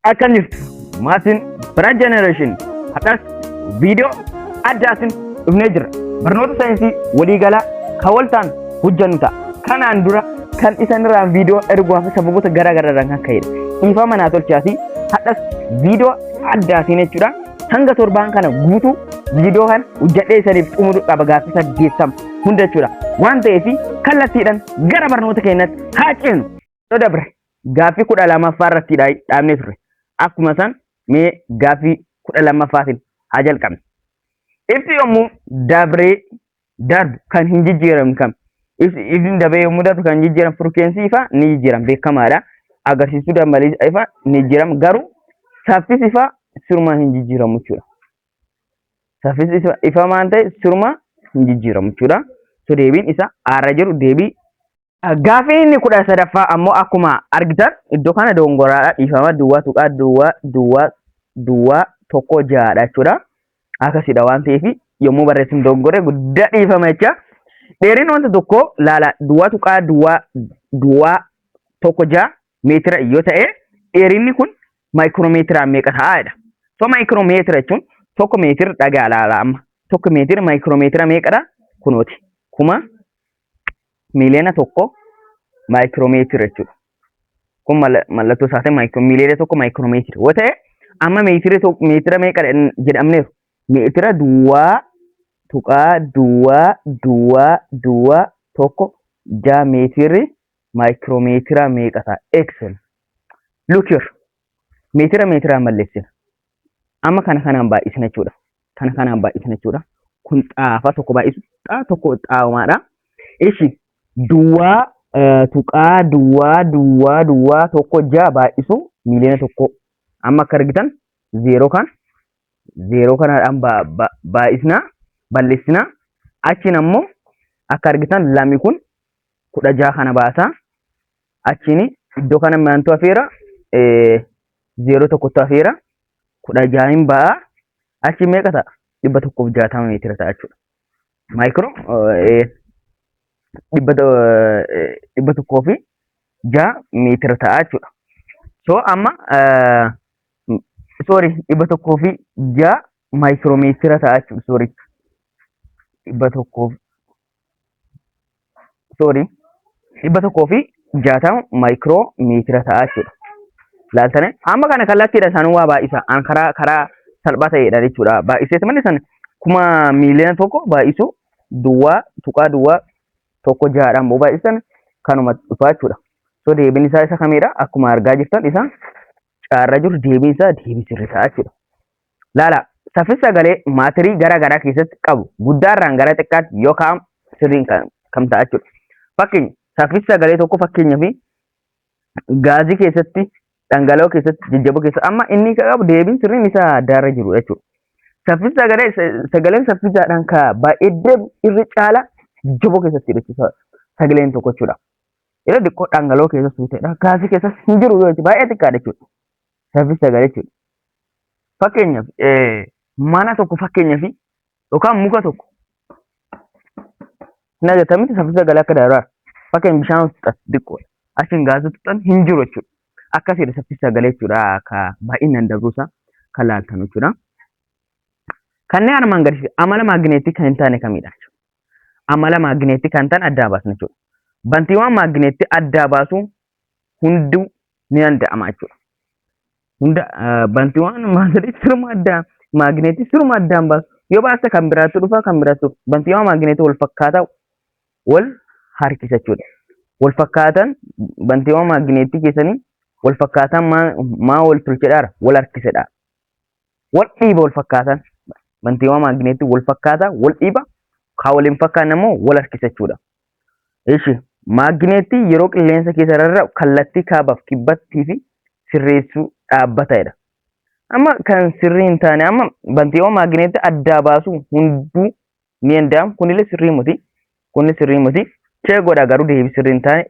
Akka jirtu maatiin Bira Generation har'as viidiyoo addaatiin dhufnee jirra. Barnoota saayinsii waliigalaa kan waltaan hojjannu ta'a. Kanaan dura kan isanirraan viidiyoo erguwaa fi sababoota garaa garaarraan kan ka'edha. Dhiifama naa tolchaa fi har'as viidiyoo addaatiin jechuudha. Hanga torbaan kana guutuu viidiyoo kana hojjadhee isaniif xumuru qaba gaaffii saddeettama hunda jechuudha. Waan ta'eef kallattiidhaan gara barnoota keenyatti haa ceenu. Yoo dabre Gaaffii kudha lamaffaa irratti dhaabnee turre. Akkuma san mee gaaffii kudha lammaffaatiin haa jalqabne. Ibsi yommuu dabree darbu kan hin jijjiiramne kam? Ibsi dabree yommuu darbu kan jijjiiramu firkeensii ifaa ni jijjiirama beekamaadha. Agarsiistuu dambalii ifaa ni jijjiirama garuu saffisi ifaa siruma hin jijjiiramu jechuudha. Saffisi ifaa maal ta'e siruma hin jijjiiramu jechuudha. So deebiin isa aara jiru deebii Gaaffiin inni kudha sadaffaa ammoo akkuma argitan iddoo kana doongoraadha dhiifama duwwaa tuqaa duwwaa duwwaa duwwaa tokko ja'aadha jechuudha. Akkasiidha waan ta'eef yommuu barreessinu doongore guddaa dhiifama jecha. Dheerina wanta tokkoo laala duwwaa tuqaa duwwaa duwwaa tokko ja'a meetira yoo ta'e dheerinni kun maayikiroomeetiraan meeqa ta'aadha. So maayikiroomeetira jechuun tokko meetira dhagaa laala amma. Tokko meetira maayikiroomeetira meeqadha? Kunooti. Kuma miiliyoona tokko maayikiroomeetira jechuudha. Kun mallattoo isaa ta'e miiliyoona tokko maayikiroomeetira yoo ta'e amma meetira meetira meeqa jedhamneeru meetira duwwaa tuqaa duwwaa duwwaa duwwaa tokko jaa meetirri maayikiroomeetira meeqa ta'a? Excel. Look here. Meetira meetiraan balleessina. Amma kana kanaan baay'isna jechuudha. Kana kanaan baay'isna jechuudha. Kun xaafa tokko baay'isu xaa tokko xaawamaadha. Ishi duwwaa eh, tuqaa duwwaa duwwaa duwwaa tokko ja'a baay'isu miiliyoona tokko. Amma akka argitan zeeroo kan zeeroo kanaadhaan ba- ba- baay'isna bal'isna. Achiin ammoo akka argitan lami kun kudha ja'a kana baasa. Achiin iddoo kana maantu hafeera zeeroo tokkotu hafeera kudha jahin ba'a achi meeqa ta'a dhibba tokkoof jaatama meetira ta'a jechuudha. Maayikiroo dhibba tokkoo fi jaha meetira ta'a jechuudha. So amma sorry dhibba tokkoo fi jaha maayikiroo meetira ta'a jechuudha sorry dhibba tokkoo sorry dhibba tokkoo fi jaatama maayikiroo meetira ta'a jechuudha. Laaltane amma kana kallattiidha isaan waa baay'isa an karaa karaa salphaa ta'eedha jechuudha. Baay'isees malee san kuma miiliyoona tokko baay'isu duwwaa tuqaa duwwaa tokko jahaadhaan boo baay'isan kanuma dhufaa jechuudha. So deebiin isaa isa kamiidha akkuma argaa jirtan isaan caarra jiru deebiin isaa deebii sirrii ta'a jechuudha. Laala saffisa sagalee maatirii gara garaa keessatti qabu guddaarraan gara xiqqaatti yoo kaa'amu sirriin kan kam ta'a jechuudha. Fakkeenya saffisa sagalee tokko fakkeenyaa fi gaazii keessatti dhangala'oo keessatti jajjaboo keessatti amma inni kan qabu deebiin sirriin isaa addaarra jiru jechuudha. Saffisa sagalee sagaleen saffisaadhaan ka baay'ee deemu irra caala jajjaboo keessatti jechuudha sagaleen tokko jechuudha. Yeroo xiqqoo dhangala'oo keessa suuteedha. Gaasii keessas hin jiru yoo jechuudha. Baay'ee xiqqaadha jechuudha. Saffisa sagal jechuudha. Fakkeenyaaf mana tokko fakkeenyaaf yookaan muka tokko hin agartamitti saffisa sagal akka daraara. Fakkeenyaaf bishaan tuqxan xiqqoodha. Achiin gaasii tuqxan hin jiru jechuudha. Akkasiidha saffisa sagal jechuudha. Akka baay'inaan darbuusaa kan laaltan jechuudha. Kanneen armaan gadii amala maagneetii kan hin taane kamidha? amala maagneetti kan ta'an addaa baasna jechuudha. Bantiiwwan maagneetti addaa baasuu hunduu ni danda'ama jechuudha. Hunda bantiiwwan maagneetti siruma addaa maagneetti siruma addaan baasu yoo baasta kan biraatti dhufa kan biraatti bantiiwwan maagneetti wal fakkaataa wal harkisa jechuudha. Wal fakkaatan bantiiwwan maagneetti keessanii wal fakkaataan maa maa wal tolchedhaara wal harkisedha. wal dhiiba wal fakkaatan mantiiwwan maagneetii wal fakkaata wal dhiiba kaa wal hin fakkaanne immoo wal harkisa jechuudha. Ishi maagneetii yeroo qilleensa keessa rarra'u kallattii kaabaaf kibbattii fi sirreessuu dhaabbatadha. Amma kan sirrii hin taane amma bantiiwwan maagneetii addaa baasuu hunduu ni danda'amu kunillee sirrii miti kunni sirrii miti chee godha garuu deebii sirrii hin taane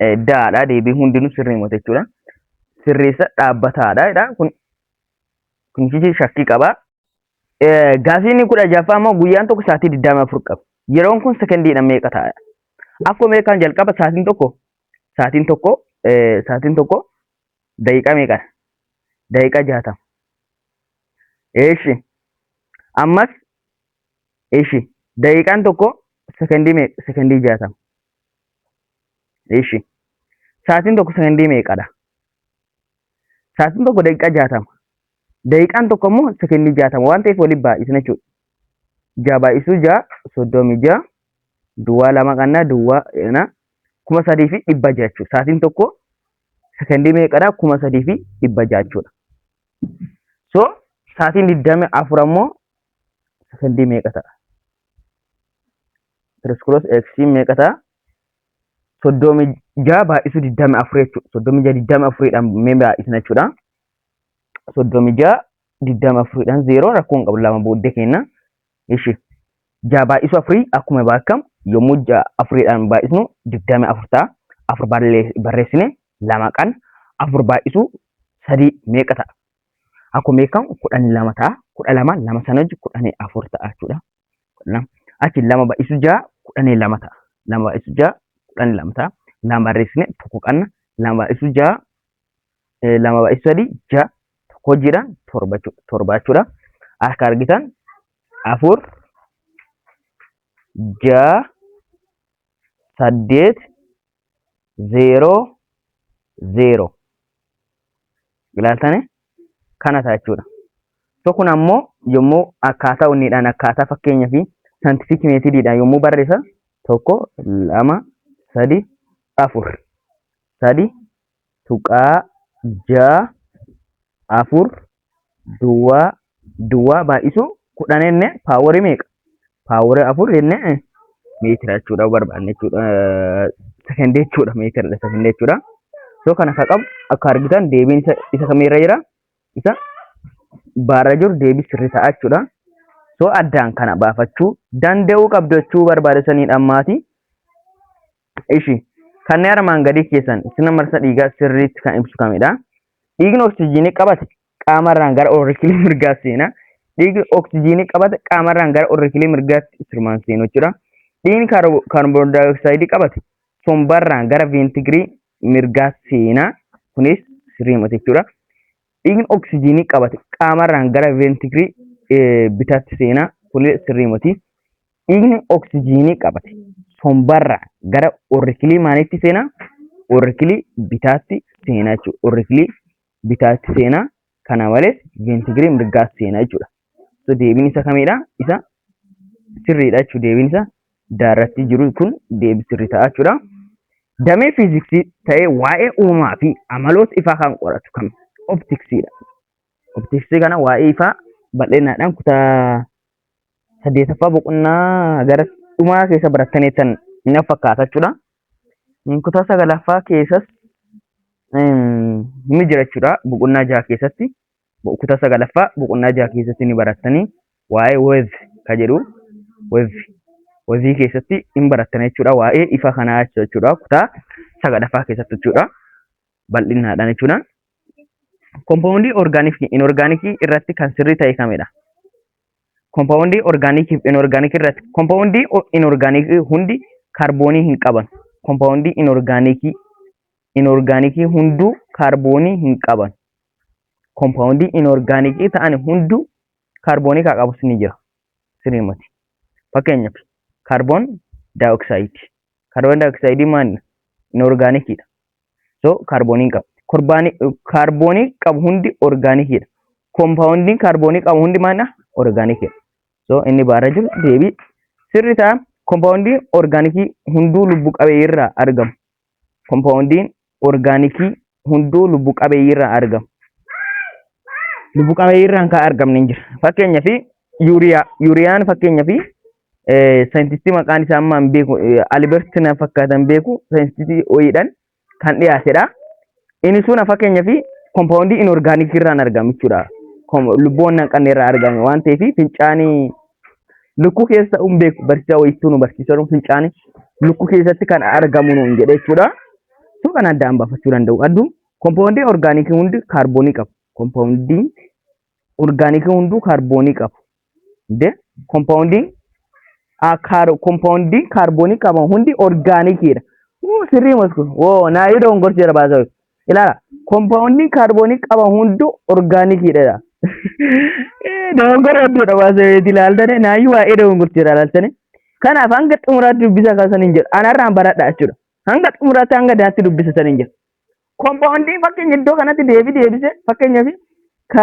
eh, daadha deebii hundinuu sirrii miti jechuudha sirreessa dhaabbataadha jedha kun kunchichi shakkii qaba Eh, gaafiin kudha jaffaa immoo guyyaan tokko sa'aatii digdamii afur qaba yeroon kun sekondiidha meeqa ta'a akkuma beekaan jalqaba sa'aatiin tokko sa'aatiin tokko eh, sa'aatiin tokko daqiiqaa meeqa daqiiqaa jaatama eeshi ammas Ishi daqiiqaan tokko sekondii meeqa? Sekondii jaatama. Ishi sa'aatiin tokko sekondii meeqadha? Sa'aatiin tokko daqiiqaa jaatama. Daqiiqaan tokko immoo sekondii jaatama waan ta'eef waliin baay'isna jechuudha. Ja'a baay'isuu ja'a soddomii ja'a duwwaa lama qannaa duwwaa na kuma sadii fi dhibba ja'a jechuudha. Sa'aatiin tokko sekondii meeqadha? kuma sadii fi dhibba ja'a jechuudha. So sa'aatiin digdami afur ammoo sekondii meeqa ta'a? Tiriskoloos eeksiin meeqa ta'a? Soddomi ja'a baay'isuu digdami afur jechuudha. Soddomi ja'a digdami afuriidhaan mee baay'isna jechuudha. Soddomi ja'a digdami afuriidhaan zeeroo rakkoo hin qabu lama booddee kenna. Ishi ja'a baay'isuu afurii akkuma baakkamu yommuu ja'a afuriidhaan baay'isnu digdami afur ta'a. Afur barreessine lama qan afur baay'isuu sadii meeqa ta'a? Akkuma beekamu kudhan lama ta'a. Kudha lama lama sana hojii kudhanii afur ta'a jechuudha. Achi lama baay'isuu ja'a kudhanii lama ta'a. Lama baay'isuu ja'a kudhanii lama ta'a. Lama barreessine tokko qanna lama baay'isuu ja'a eh, lama baay'ee sadii ja tokko hojiidhaan torba jechuudha. Torba jechuudha. Akka argitan afur ja saddeet zeeroo zeeroo ilaaltanii kana ta'a jechuudha. So kun ammoo yommuu akkaataa hundiidhaan akkaataa fakkeenyaa fi saantifiik meetidiidhaan yommuu barreessan tokko lama sadii afur sadii 0.64 duwwaa duwwaa baay'isuu 10 jennee paaworii meeqa? Paaworii 4 jennee meetira jechuudha barbaanne jechuudha. Sekendii jechuudha meetiradha sekendii jechuudha. So kana akka qabu akka argitan deebiin isa isa kamirra jira? Isa baarra jiru deebii sirrii ta'a jechuudha. So addaan kana baafachuu danda'uu qabdu jechuu barbaadesaniidha ammaati. Ishi, Kanni armaan gadii keessan sirna marsa dhiigaa sirriitti kan ibsu kamidha? Dhiigni oksijiinii qabate qaamarraan gara orrikilii mirgaatti seena. Dhiigni oksijiinii qabate qaamarraan gara orrikilii mirgaatti sirmaan seenu jechuudha. Dhiigni kaarboondaayooksaayidii qabate sombarraan gara veentigirii mirgaa seena. Kunis sirriima jechuudha. Dhiigni oksijiinii qabate qaamarraan gara veentigirii bitaatti seena. Kunis sirriimati. Dhiigni oksijiinii qabate sombarraa gara orrikilii maaliitti seena? Orrikilii bitaatti seena jechuudha. Orrikilii bitaatti seena. Kana malees veentigirii mirgaatti seena jechuudha. So deebiin isa kamidha? Isa sirriidha jechuudha. Deebiin isa daarratti jiru kun deebii sirrii ta'a jechuudha. Damee fiiziksii ta'ee waa'ee uumaa fi amaloota ifaa kan qoratu kami? Optiksiidha. Optiksii kana waa'ee ifaa bal'inaadhaan kutaa saddeetaffaa boqonnaa gara dhumaa keessa barattaniittan na fakkaata jechuudha. Kutaa sagalaffaa keessas ni jira jechuudha. Boqonnaa jaha keessatti kutaa sagalaffaa boqonnaa jaha keessatti ni barattanii waa'ee wev ka jedhu wev wevii keessatti hin barattan jechuudha. Waa'ee ifa kanaa jechuudha. Kutaa sagalaffaa keessatti jechuudha. Bal'innaadhaan jechuudha. Kompaawundii orgaanikii fi inorgaanikii irratti kan sirrii ta'e kamidha? Kompaawundii orgaanikii fi inorgaanikii irratti kompaawundii inorgaanikii hundi kaarboonii hin qaban. Kompaawundii inorgaanikii inorgaanikii hunduu kaarboonii hin qaban. Kompaawundii inorgaanikii ta'an hunduu kaarboonii kaa qabus ni jira. Sirrii miti. Fakkeenyaaf kaarboon daayooksaayidii. Kaarboon daayooksaayidii maalidha? Inorgaanikiidha. so kaarboonii hin qabu korbaanii kaarboonii qabu hundi orgaanikiidha koompaawundiin kaarboonii qabu hundi maalidha orgaanikiidha so inni baarra jiru deebii sirri ta'a koompaawundiin orgaanikii hunduu lubbu qabeeyyii irraa argamu koompaawundiin orgaanikii hunduu lubbu qabeeyyii irraa argamu lubbu qabeeyyii irraan kan argamne hin jira fakkeenyaaf yuuriyaa yuuriyaan fakkeenyaaf saayintistii maqaan isaa amma hin beeku Alibert na fakkaatan beeku saayintistii ho'iidhaan kan dhiyaatedha. Inni sun fakkeenyaaf kompaawundii inorgaanikii irraan argama jechuudha. Lubbuuwwan hin qabne irraa argame waan ta'eef fincaanii lukkuu keessa hin beeku barsiisaa wayittuu nu barsiisaa jiru fincaanii lukkuu keessatti kan argamu nuun jedhe jechuudha. Sun kan addaan baafachuu danda'u. Adduu kompaawundii orgaanikii hundi kaarboonii qabu. Kompaawundii orgaanikii hunduu kaarboonii qabu. De kompaawundii kompaawundii kaarboonii qaban hundi orgaanikiidha. Wuu sirrii mosku. Woo naayuu dogongorsi jira baasoo. Ilaala kompaawundii kaarboonii qaban hunduu orgaanikiidha. Dogongora hedduudha baasoo itti ilaaltanii naayuu waa'ee dogongorsi jira ilaaltanii. Kanaaf hanga xumuraatti dubbisa kan saniin jedhu anarraan baradha jechuudha. Hanga xumuraatti hanga daatti dubbisa saniin jedhu. Kompaawundii fakkeenya iddoo kanatti deebi deebise fakkeenyaaf ka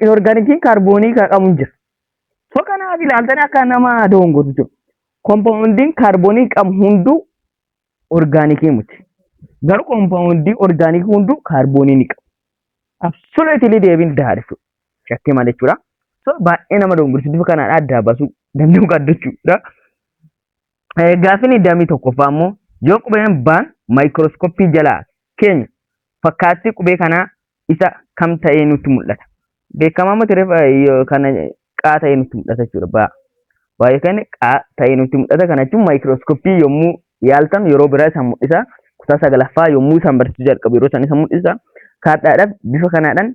inorgaanikiin kaarboonii ka qabu hin jira. So kanaaf ilaaltanii akka nama doongotu jiru. Kompaawundiin kaarboonii qabu hunduu orgaanikii miti. Garuu kompaawundii orgaanikii hunduu kaarboonii ni qabu. Absoluutili deebiin daadha jechuudha. Shakkii malee jechuudha. So baay'ee nama doongorsiisu kanaadha adda baasuu danda'uu qabdu jechuudha. Gaaffiin iddaammii tokkoffaa immoo yoo qubeen baan maayikirooskoppii jalaa keenya fakkaattii qubee kanaa isa kam ta'ee nutti mul'ata. Beekamaa miti kana qaa ta'ee nutti mul'ata jechuudha. Baa baa yookaan qaa ta'ee nutti mul'ata kana jechuun maayikirooskoppii yommuu yaaltan yeroo biraa isaan mul'isa. Kutaa sagalaffaa yommuu isaan barsiisuu jalqabu yeroo isaan isa mul'isa. Kaadhaadhaaf bifa kanaadhaan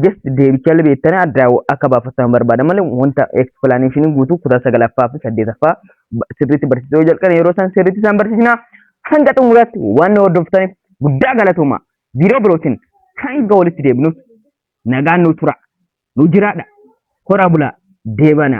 just deebichallee beektanii adda akka baafattan barbaada malee wanta explanation guutuu kutaa sagalaffaa fi saddeetaffaa sirriitti barsiisuu yoo jalqabne yeroo isaan sirriitti isaan barsiisna hanga xumuraatti waan hordoftaniif guddaa galatooma biiroo birootiin hanga walitti deebinuuf nagaan nu tura nu jiraadha horaa bulaa deebana.